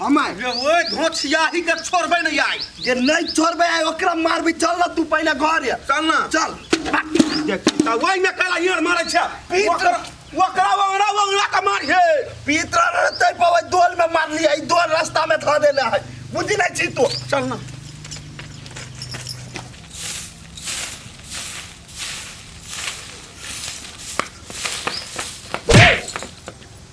हम आए रे ओए धोछिया ही के छोड़बे नहीं आई जे नहीं छोड़बे आए ओकरा मारबे चल ना तू पहले घर या चल ना चल देख ता वही में काला यार मारे छे ओकरा ओकरा वंगड़ा वंगड़ा का मार हे पीतरा रहते पवे दोल में मार लिया ई दोल रास्ता में धो देले है बुझी नहीं छी तू चल ना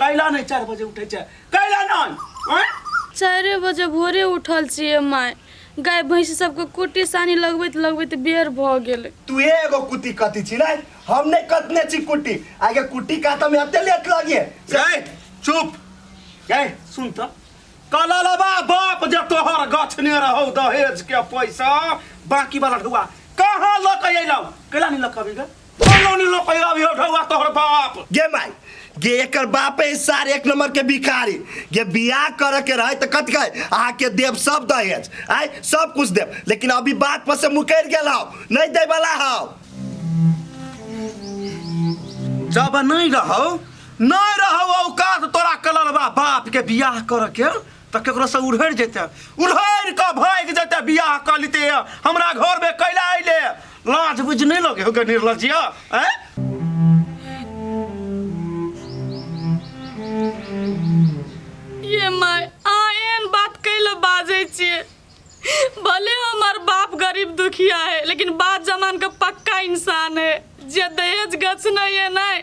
कैला नहीं चार बजे उठे छे कैला नहीं हैं? चारि बजे भोरे उठल छियै माय गाय भैंसी सबके कुट्टी सानी लगबैत लगबैत बेर भऽ गेलै तू एगो कुट्टी कति छी नहीं हम नहीं कतने छी कुट्टी आगे कुट्टी काटऽ में अते लेट लगे गए चुप गए सुन तो कला लबा बाप जे तोहर गछने रहो दहेज के पैसा बाकी वाला ढुआ कहाँ लक अयलौ कैला नहीं लक अभी गे कोनो नहीं लो पैरा भी उठावा तोहर बाप गे माई गे एकर बाप है सार एक नंबर के भिखारी गे बियाह करे के रहे तो कत गए आ के देव सब दहेज आय सब कुछ देव लेकिन अभी बात पर से मुकर गेल हौ नहीं दे वाला हौ जब नहीं रहो नहीं रहो औकात तोरा कलर बा बाप के बियाह करे के तऽ केकरोसँ उड़हरि जेतै उड़हरि कऽ भागि जेतै बियाह कऽ लेते हमरा घरमे कैला अयले लाज बुझ नहि लगे हो गए निर्लजिया आँय ये माय अहाँ एहन बात कैले बाजै छियै भले हमर बाप गरीब दुखिया है लेकिन बाप जमान के पक्का इंसान है जे दहेज गछ नहीं है नहीं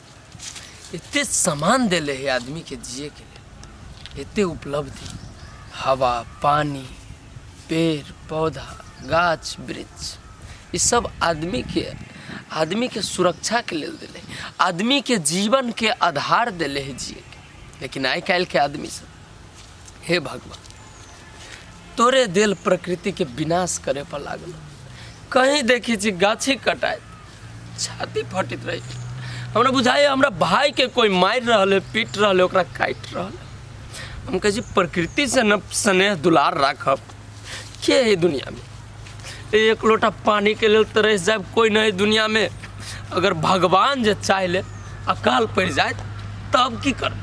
एते सामान देले है आदमी के जिए के लिए एते उपलब्धि हवा पानी पेड़ पौधा गाछ वृक्ष ई सब आदमी के आदमी के सुरक्षा के लेल देले है। आदमी के जीवन के आधार देले है जिए के लेकिन आइ काल्हि के आदमी सब हे भगवान तोरे देल प्रकृति के विनाश करे पर लागल कहीं देखी छी गाछी कटाए छाती फटित रही हमरा बुझाइए हमरा भाई के कोई मारि रहल है पीट रहल है ओकरा काटि रहल है हम कहै छी प्रकृति से न स्नेह दुलार राखब के है दुनिया में एक लोटा पानी के लेल तरह से जाए कोई नहीं दुनिया में अगर भगवान जे चाह ले अकाल पड़ जाए तब की कर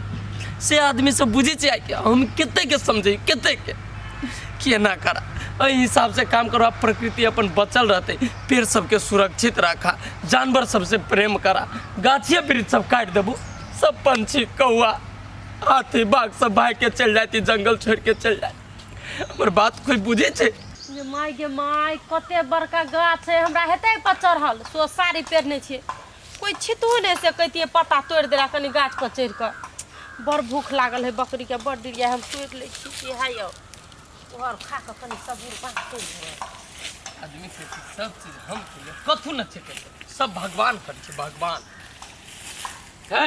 से आदमी से बुझे चाहिए कि हम कते के समझे कते के केना करा एहि हिसाब से काम करो प्रकृति अपन बचल रहते पेड़ सबके सुरक्षित रखा जानवर सबसे प्रेम करा गाछिए वृक्ष सब काट देबू सब पंछी कौआ हाथी बाघ सब भाग के चल जाती जंगल छोड़ के चल जाए हमर बात कोई बुझे छे गे माय गे माय कते बड़का गाछ है हमरा हेते पर चढ़ल सो साड़ी पेरने छे कोई छितू नहीं से कहतिए पत्ता तोड़ देला कनी गाछ पर चढ़ के बड़ भूख लागल है बकरी के बड़ दिलिया हम तोड़ ले छी कि है यो और खा के कनी सबूर बात कर ले आदमी के सब चीज हम कथू न छे सब भगवान कर छे भगवान है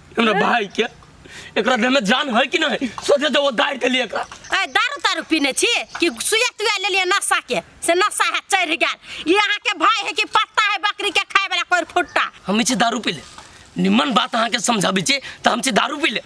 हमरा भाई के एकरा देह में जान है कि नहीं सोचे तो वो दार के लिए एकरा ए दारू तारू पीने छी कि सुया तुया ले लिए नशा के से नशा है चढ़ गया ये अहाँ के भाई है कि पत्ता है बकरी के खाए वाला कोई फुट्टा हम छी दारू पी ले निमन बात अहाँ के समझाबी छी तो हम छी दारू पी ले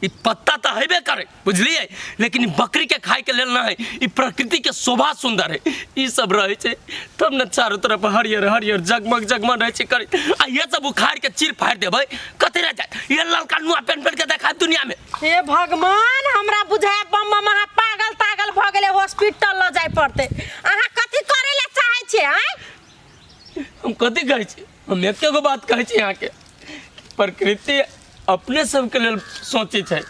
ई पत्ता तो हेबे करे बुझलिए लेकिन ई बकरी के खाए के लेल ना है ई प्रकृति के शोभा सुंदर है ई सब रहे छै तब न चारों तरफ हरियर हरियर जगमग जगमग रहे छै करी आ ये सब उखाड़ के चीर फाड़ देबै कते रह जाए ये ललका नुआ पेन पेन के देखा दुनिया में हे भगवान हमरा बुझाए बम बम अहाँ पागल तागल भऽ गेलै हॉस्पिटल लऽ जाय पड़तै अहाँ कथी करै लए चाहै छियै आँय हम कथी कहै छी हम एके गो बात कहै छी अहाँके प्रकृति अपने सबके लेल सोचै छै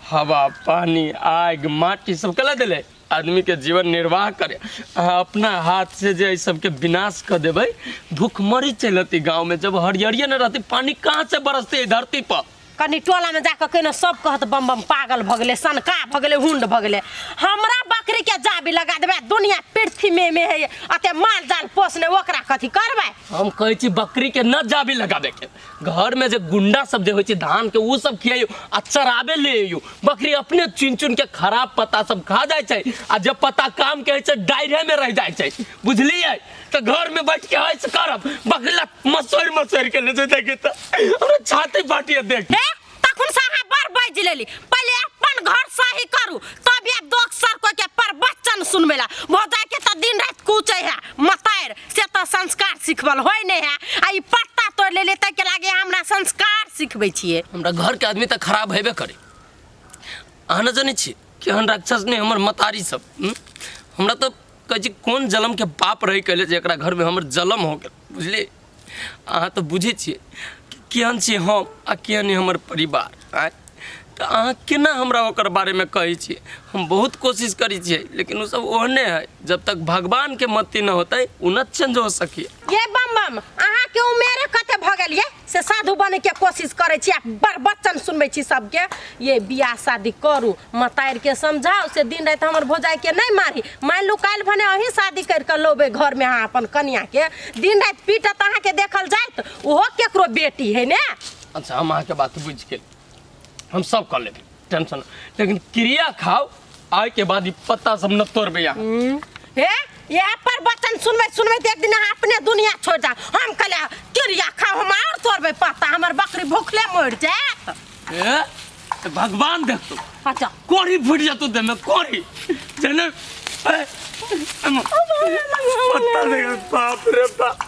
हवा पानी आगि माटी सब कला देले आदमीके जीवन निर्वाह करे अहाँ अपना हाथसँ जे एहि सबके विनाश कऽ देबै भुखमरी चलि अतै गाँवमे जब हरियरिए नहि रहतै पानी कहाँसँ बरसतै एहि धरतीपर कनि टोलामे जा कऽ कहिने सब कहत बम बम पागल भऽ गेलै सनका भऽ गेलै हुंड भऽ गेलै हमरा बकरीके जाबी लगा देबै दुनिया पृथ्वीमे मे है अते माल जाल पोसने ओकरा कथी करबै हम कहै छी बकरी के न जाबी लगाबे के घर में जे गुंडा सब जे होइ छै धान के उ सब खियाइयो आ चराबे ले अइयो बकरी अपने चुन चुन के खराब पत्ता सब खा जाइ छै आ जे पत्ता काम के होइ छै डायरे में रह जाइ छै बुझलियै तो घर में बैठ के हंस करब बगला मसोर मसोर के ले जते के त हमरा छाती फाटिए देख हे तखन से अहाँ बड़ बाजि लेली पहिले अपन घर सही करू तब ये दोख सर को के प्रवचन सुनबे ला भौजा के तो दिन रात कूचे है मतार से तो संस्कार सिखबल होय नहीं है आ ई पत्ता तोड़ ले लेते के लागे हमरा संस्कार सिखबै छिए हमरा घर के आदमी त खराब हेबे करे अहाँ न जानै छी केहन राक्षस ने हमर मतारी सब हम्म? हमरा त कहै छी कोन जलमके पाप रहै कयले जे एकरा घरमे हमर जलम हो गेल बुझलियै अहाँ तऽ बुझै छियै कि केहन छियै हम आ केहन अइ हमर परिवार आँय तऽ अहाँ केना हमरा ओकर बारेमे कहै छियै हम बहुत कोशिश करै छियै लेकिन ओसभ ओहने हइ जब तक भगवानके मति न होतै ओ न चेंज हो सकैए ये बम बम अहाँ के उमेरे कते भ गेल ये से साधु बने के कोशिश करे छी आ बड़ बच्चन सुनबे छी सबके ये बियाह शादी करू मतार के समझाओ से दिन रात हमर भोजाई के नहीं मारी मान लू काल भने अही शादी कर के लोबे घर में अहाँ अपन कन्या के दिन रात पीटत अहाँ के देखल जात ओहो केकरो बेटी है ने अच्छा हम अहाँके बात बुझि गेल हम सब कऽ लेबै टेंशन लेकिन क्रिया खाओ आय के बाद ई पत्ता सब न तोड़ भैया हम्म, ए यह पर बचन सुनबे सुनबे तो एक दिन अहाँ अपने दुनिया छोड़ जा हम कहले किरिया खाओ हम और तोड़बे पत्ता हमर बकरी भूखले मर जाए ए तो भगवान देख तू अच्छा कोरी फूट जा तू दे में कोरी जने ए, एम, पत्ता देख बाप रे बाप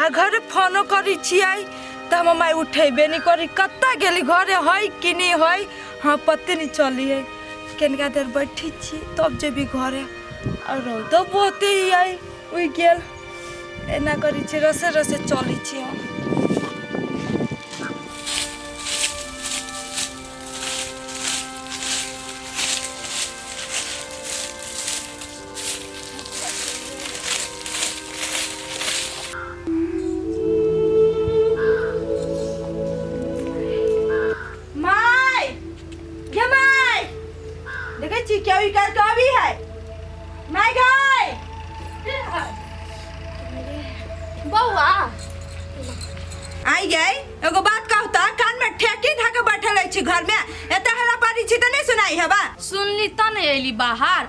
आ घरे फोनो करी छियै तऽ हमर माय उठेबे नहि करी कतऽ गेली घरे हइ कि नहि हइ हाँ पते नहि चली है केनका देर बैठी छी तब जेबी घरे आ रौदो बहुते ही है उइ गेल एना करी छी रसे रसे चली छी हम माय गे माय देखै छी केओ ई काज कभी है माय गाय बौआ आई गई एगो बात कहू त कान में ठेकी धके बैठल अछि घर में एते हला पारी छी त नहीं सुनाई है बा सुनली त नहीं अली बाहर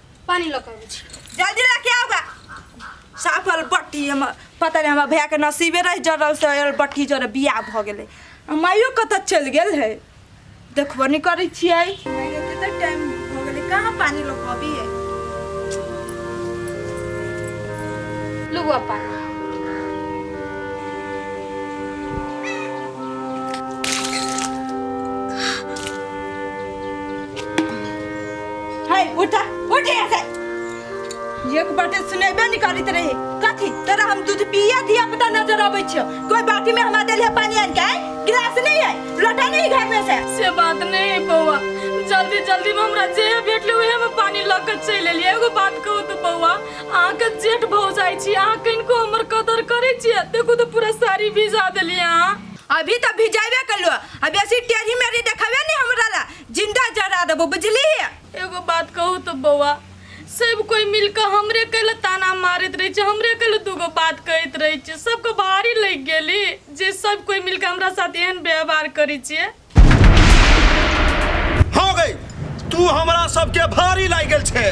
पानी लऽ के अबै छी जल्दी लेके आओगा साफ अलबट्टी हम पता नहीं हमारा भैया के नसीबे रहे जरल से अलबट्टी जरे बियाह भ गेले माइयो कत चल गेल है देखबो नहीं करै छियै कते टाइम भ गेले कहाँ पानी लोग अभी है लुआ पानी है उठा उठ यहाँ से एक बाटे सुनेबे नहीं करित रहे कथी तोरा हम दूध पिया दिया पता नजर आबै छियो कोई बाटी में हमरा देलिए पानी आन के आय? गिलास नहीं है लोटा नहीं घर में से से बात नहीं है बउआ जल्दी जल्दी में हमरा जे भेटले उहे में पानी लऽ कऽ चलि एलियै एगो बात कहू तऽ बउआ अहाँके जेठ भौजाइ छी अहाँ कनिको हमर कदर करै छियै देखू तऽ पूरा साड़ी भिजा देलियै अहाँ अभी तो भिजाइबे कलो आ बेसी टेढ़ी मेढ़ी देखावे नहीं हमरा ला जिंदा जरा देबो बुझली एगो बात कहू तो बौआ सब कोई मिलकर हमरे कल ताना मारत रहे छे हमरे कल दूगो बात कहत रहे छे सबके भारी लग गेली जे सब कोई मिलकर हमरा साथ एहन व्यवहार करे छे हो गई तू हमरा सबके भारी लाग गेल छे